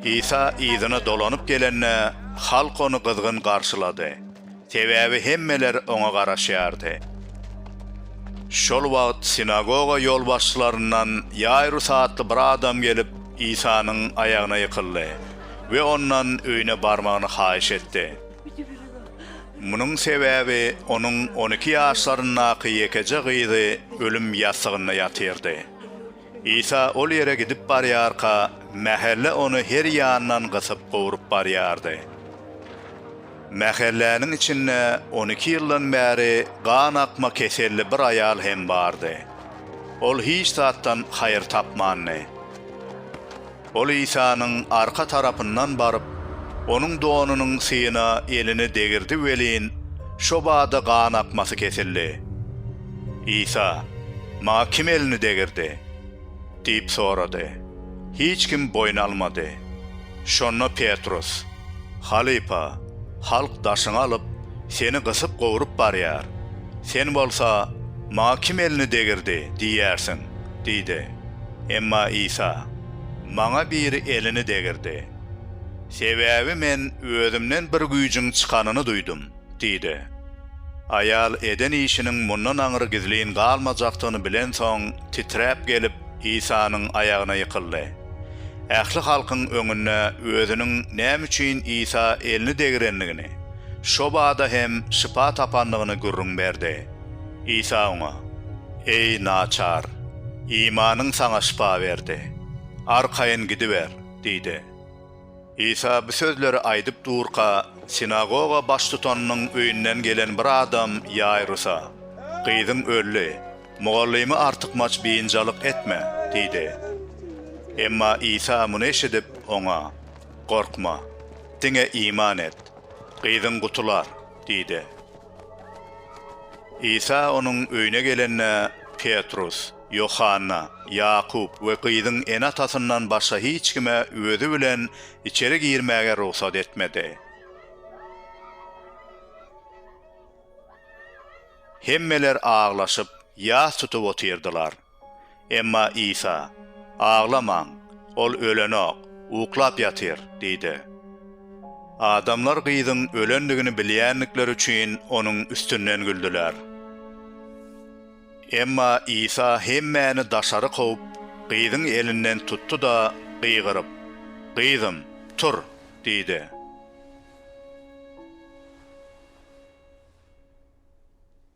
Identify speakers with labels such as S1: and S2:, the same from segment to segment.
S1: Isa yzyna dolanyp gelende, halk ony gyzgyn garşylady, sebäbi hemmeler oňa garaşýardy. Şol wagt sinagoga ýolbaşçylaryndan Ýaýrus atly bir adam gelip, Isanyň aýagyna ýykyldy we ondan öýüne barmagyny haýyş etdi. Munuň sebäbi onuň on iki ýaşlaryndaky ýekeje gyzy ölüm ýassygynda ýatyrdy. Isa ol ýere gidip barýarka, mähelle ony her ýandan gysyp gowrup barýardy. Mähelläniň içinde on iki ýyldan bäri gan akma keselli bir aýal hem bardy. Ol hiç zatdan haýyr tapmandy. Ol Isanyň arka tarapyndan baryp, Onuň donunyň syýyna elini degirdi welin, şo bada gan akmasy kesildi. Isa, Maňa kim elini degirdi? diýip sorady. Hiç kim boýun almady. Şonda Petrus, Halypa, halk daşyňy alyp, Seni gysyp-gowrup barýar. Sen bolsa, Maňa kim elini degirdi? diýýärsiň. Diýdi. Emma Isa, Maňa biri elini degirdi. Sebäbi Men Özümden bir güýjüň çykanyny duýdum, diýdi. Aýal eden işiniň mundan aňry gizlin galmajakdygyny bilensoň, titräp gelip, Isanyň aýagyna ýykyldy. Ähli halkyň öňünde özüniň näme üçin Isa elini degirendigini, şo bada hem şypa tapandygyny gürrüň berdi. Isa oňa, Eý, naçar, imanyň saňa şypa berdi. Arkaýyn gidiber! diýdi. Isa bu sözleri aýdyp durka, sinagoga baştutanynyň öýünden gelen bir adam Ýaýrusa, Gyzyň öldi, mugallymy artykmaç biynjalyk etme! diýdi. Emma Isa muny eşidip, oňa, Gorkma, diňe iman et, gyzyň gutular! diýdi. Isa onuň öýüne gelende, Petrus, Ýohanna, Ýakup we gyzyň ene-atasyndan başga hiç kime özi bilen içeri girmäge rugsat etmedi. Hemmeler aglaşyp, ýas tutup otyrdylar. Emma Isa, Aglamaň, Ol ölenok, uklap ýatyr diýdi. Adamlar gyzyň ölendigini bilýändikleri üçin onuň üstünden güldüler. Emma Isa hemmäni daşary kowup, gyzyň elinden tutdy-da, gygyryp, Gyzym, tur! diýdi.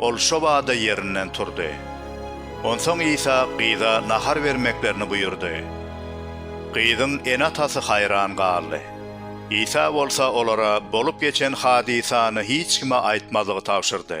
S1: Ol şobada ýerinden turdy. Onsoň Isa gyza nahar bermeklerini buýurdy. Gyzyň ene-atasy haýran galdy. Isa bolsa olara bolup geçen hadysany hiç kime aýtmazlygy tabşyrdy.